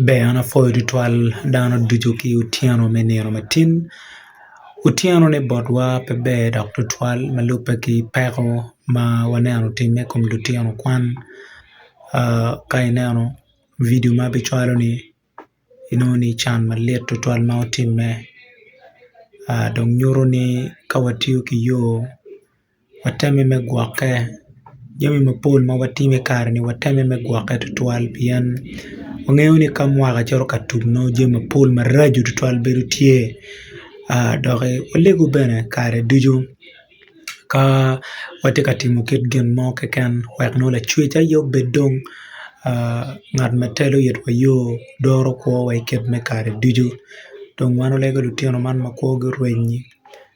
Ber an apwoyo tutwal dano ducu ki otyeno me nino matin otyeno ni botwa pe ber dok tutwal ma lubbe ki peko ma waneno otimme i kom lutino kwan ka ineno bidi ma abicwalo ni inongo ni can malit tutwal ma otimme dong nyuto ni ka watiyo ki yo Watemme me gwokke. Jami mapol ma watimo i kare-ni watemme me gwokke tutwal pien wangeyo ni ka mwaka cito ka tum nongo jami mapol maraco tutwal bedo tye dok walego bene kare ducu ka watye ka timo kit gin mo keken wek nongo lacwec aye obed dong ngat ma telo itwa yo doro kwowa i kit me kare ducu. Dong wan walego lutino man ma kwogi orenyi.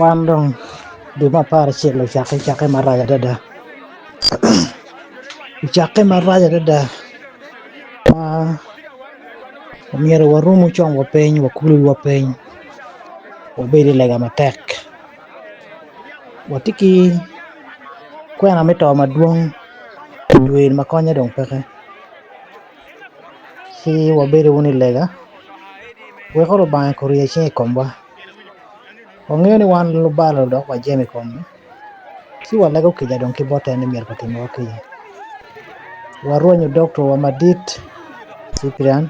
Wan dong dwe me apar acel ocakke cakke marac adada ocakke marac adada ma omyero waromo conwa piny wakulu wiwa piny wabed i lega matek watye ki kwena me to madwong dwe eni ma konye dong peke ci wabedo wunu i lega weko Lubanga eko orye cinge i komwa. Wangeyo ni wan lubalo dok wajemo i kome, ci walego kica dong ki bote ni myero kitimwa kinya. Warwenyo doktowa madit Cyprian,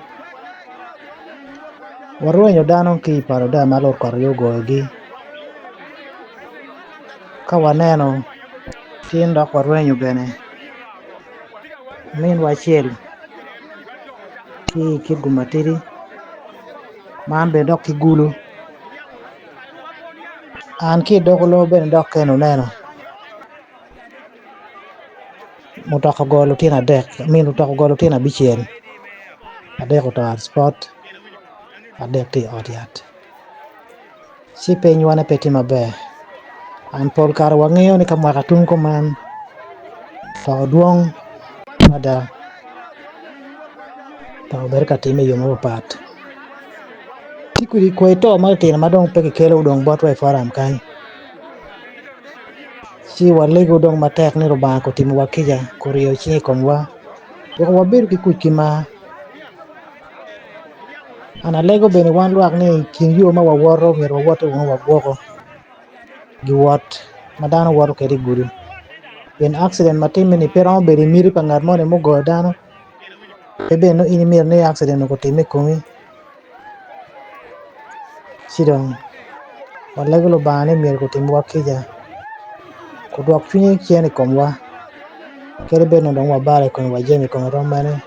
warwenyo dano ki i palo da ma Lord kot aye ogoyogi. Ka waneno tin dok warwenyo bene minwa acel ki i Kidgum Matidi. Man bene dok ki gulu an ki idoko lobo bene dok kene oneno mutoka ogoyo lutino adek I mean mutoka ogoyo lutino abicel adek oto out spot adek tye I ot yat. Ci pinywa ne pe tye maber and pol kare wa ngeyo ni ka mwaka tum kuman to dwong mada dok obedo ka time iyo mapat pat ci kodi kwai to ma ki tino ma dong pe ki kelo dong botwa i foram kany ci wa lego dong matek ni Lubanga ko timo wa kica ko ryeyo cinge i komwa weko wa bedo ki kuc ki mar An alego bene wan lwak ni i kin yo ma wawoto omyero wawotte wunu wa gwoko giwot ma dano woto kwede i gudo pien akciden ma timme ni pe romo bedo i miti pa ngat moni mugoyo dano pe bene nongo in imyero ni akciden onongo otimme i komi ci dong walego Lubanga ni myero kutimwa kica kudwok cwinye cen i komwa kadi bed ni dong wabalo i kome wa jami i kome rom mene.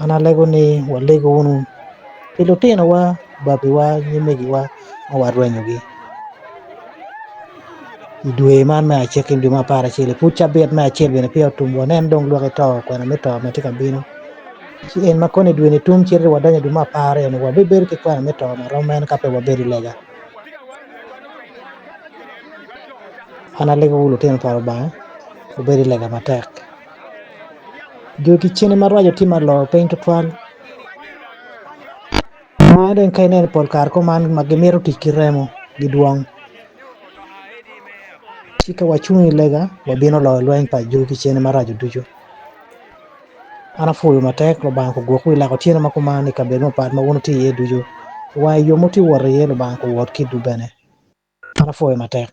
An alego ni waleg wunu pi lutinowa, babiwa, nyimegiwa ma warwenyogi. I dwe man me acel ki dwe me apar acel i pud cabit me acel bene peya otum wanen dong lwaki to kwena me to ma tye ka bino. Ci en ma kono i dwe-ni tum cite wadonyo i dwe me apar aryo-ni wabibedo ki kwena me to ma rom mene ka pe wabedo i lega. An alegowu lutino pa Lubanga, wubed i lega matek. Dul ki cene maraco tye ma olor piny tutwal ma dong ka ineno pol kare kong man ma gimito tic ki remo gidwong ci ka wacung i lega wabino loyo lweny pa dul ki cene maraco ducu an apwoyo matek Lubanga kogwok wi lak otyeno ma kuman i kabedo mapat ma wun wutye iye ducu wa i yo ma wutye ka wot iye Lubanga kowot kwedwu bene an apwoyo matek.